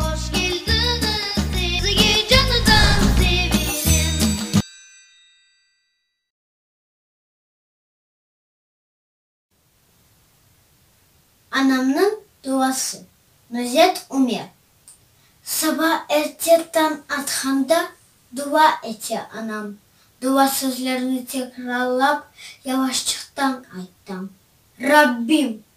Hoş keldiñiz sizge canıdan sevenim. Anamnıñ duası, Nuzet Ümer. Saba erte tañ atqanda dua ete anam. Dua sözlerini tekrarlap, yavaşçıqtan ayttım. Rabbim,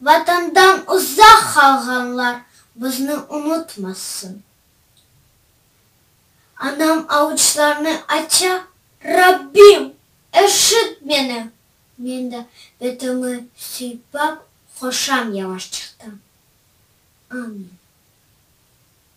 Vatandan uzaq qalğanlar bizni unutmasın. Anam avuçlarını aça, Rabbim, eşit meni! Men de betimi sıypap qoşam yavaşçıqtan, Amin.